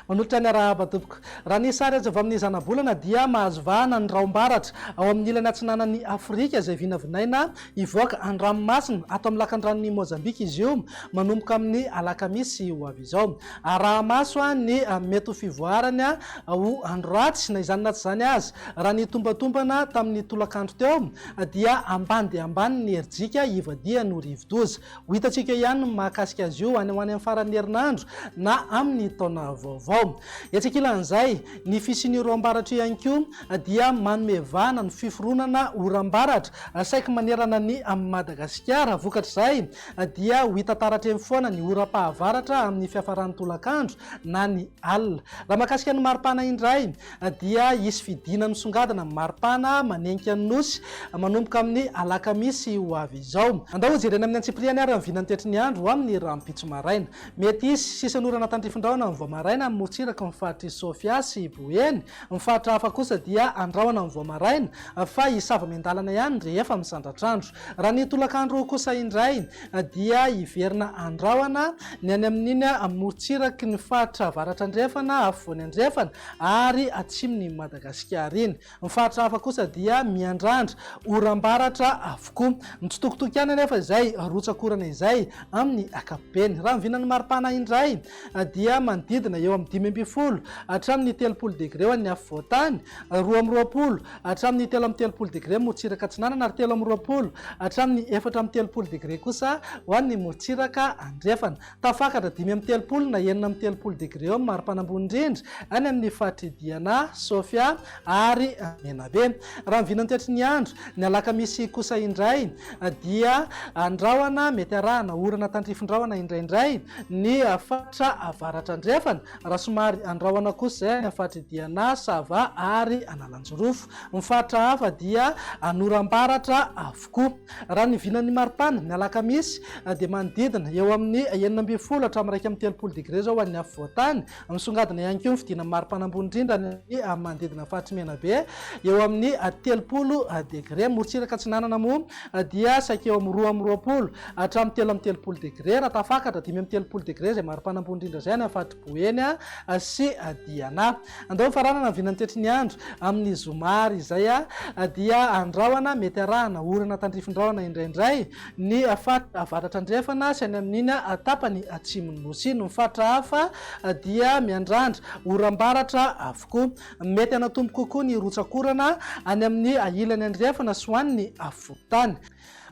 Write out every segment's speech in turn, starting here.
Manolotra ny arahaba tompoko. Raha ny sary azo avy amin'ny zanabolana dia mahazo vahana ny raom-baratra ao amin'ny ilany atsinanan'i Afrika izay vinavinaina Hivoaka an-dranomasina ato amin'ny lakandranon'i Mozambika i Zium manomboka amin'ny alakamisy ho avy izao. Araha-maso ny mety ho fivoarany ho andro ratsy. Na izany na tsy izany aza, raha ny tombantombana tamin'ny tolakandro teo dia ambany dia ambany ny herijika hivadihany ho rivodoza. Ho hitantsika ihany ny mahakasika azy io any ho any amin'ny faran'ny herinandro na amin'ny taona vaovao. Etsy ankilan'izay, ny fisian'io roambaratra io ihany koa dia manome vahana ny fiforonana oram-baratra saiky manerana an'i Madagasikara. Vokatr'izay dia ho hita taratra eny foana ny oram-pahavaratra amin'ny fiafaran'ny tolakandro na ny alina. Raha mahakasika ny maripana indray, dia hisy fidina misongadina amin'ny maripana manenika ny Nosy manomboka amin'ny alakamisy ho avy izao. Andao hojerena amin'ny antsipiriany ary amin'ny vinany toetry ny andro amin'ny rahampitso maraina. Mety hisy sisin'ny orana tandrifin-drahona amin'ny vao maraina amin'ny morontsiraky ny faritr'i Sofia sy Boeny. Ny faritra hafa kosa dia andrahona amin'ny vao maraina fa hisava miandalana ihany rehefa misandratr'andro. Raha ny tolakandro kosa indray dia hiverina an-drahona ny any amin'iny morontsiraky ny faritra avaratra andrefana, afovoany andrefana ary atsimon'i Madagasikara iny. Ny faritra hafa kosa dia miandrandra oram-baratra avokoa. Mitsitokotoko ihany anefa izay rotsak'orana izay amin'ny ankapobeny. Raha ny vinan'ny maripana indray, dia manodidina eo amin'ny dimy ambin'ny folo hatramin'ny telopolo degre ho an'ny afovoan-tany, roa amby roapolo hatramin'ny telo amby telopolo degre morotsiraka atsinanana ary telo amby roapolo hatramin'ny efatra amby telopolo degre kosa ho an'ny morotsiraka andrefana. Tafakatra dimy amby telopolo na enina amby telopolo degre eo amin'ny mari-panambony indrindra any amin'ny faritry Diana, Sofia, ary Menabe. Raha ny vinantetry ny andro, ny alakamisy kosa indray dia an-drahona mety arahana orana tandrifin-drahona indraindray ny faritra avaratra andrefana, raha somary an-drahona kosa izay any amin'ny faritry Diana, Sava ary Analanjirofo. Ny faritra hafa dia an'oram-baratra avokoa. Raha ny vinan'ny maripana, ny alakamisy dia manodidina eo amin'ny enina ambin'ny folo hatramin'ny iraika amby telopolo degre izao ho an'ny afovoan-tany, Misongadina ihany koa ny fidiana maripana ambony indrindra any amin'ny manodidina ny faritry Menabe eo amin'ny telopolo degre. Ny morontsiraka atsinanana moa dia saika eo amin'ny roa amby roapolo hatramin'ny telo amby telopolo degre raha tafakatra dimy amby telopolo degre izay maripana ambony indrindra izay any amin'ny faritry Boeny sy Diana. Andao hifaranana ny vinan'ny toetry ny andro amin'ny zoma ary izay dia andrahona mety arahana orana tandrifin-drahona indraindray Ny faritra avaratra andrefana sy any amin'iny tapany atsimon'ny Nosy iny. Ny faritra hafa dia miandrandra oram-baratra avokoa. Mety hanatombo kokoa ny rotsak'orana any amin'ny ilany andrefana sy ho any ny afovoan-tany.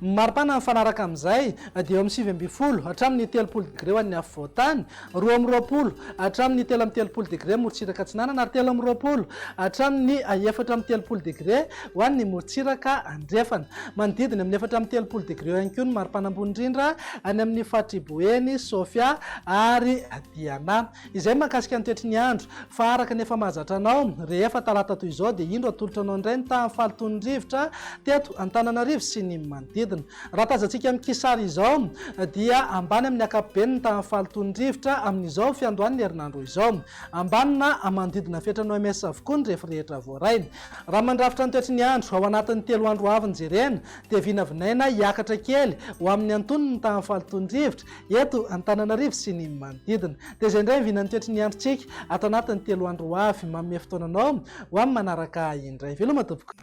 Ny maripana mifanaraka amin'izay dia eo amin'ny sivy ambin'ny folo hatramin'ny telopolo degre ho an'ny afovoan-tany Roa amby roapolo hatramin'ny telo amby telopolo degre morontsiraka atsinanana ary telo amby roapolo hatramin'ny efatra amby telopolo degre ho an'ny morontsiraka andrefana. Manodidina amin'ny efatra amby telopolo degre eo ihany koa ny maripana ambony indrindra any amin'ny faritr'i Boeny, Sofia ary Diana. Izay ny mahakasika ny toetry ny andro fa araka ny efa mahazatra anao rehefa talata toy izao dia indro atolotra anao indray ny tahan'ny fahalotoan'ny rivotra teto Antananarivo sy ny manodidina. Raha tazantsika amin'ny kisary izao dia ambany amin'ny ankapobeny ny tahan'ny fahalotoan'ny rivotra amin'izao fiandohan'ny herinandro izao. Ambany na manodidina ny fetran'ny OMS avokoa ny refy rehetra voarainy. Raha mandrafitra ny toetry ny andro, ao anatin'ny telo andro ho avy ny jerena dia vinavinaina hiakatra kely ho amin'ny antonony ny tahan'ny fahalotoan'ny rivotra eto Antananarivo sy ny manodidina. Dia izay indray ny vinan'ny toetry ny androntsika ato anatin'ny telo andro ho avy. Manome fotoana anao ho amin'ny manaraka indray veloma tompoko.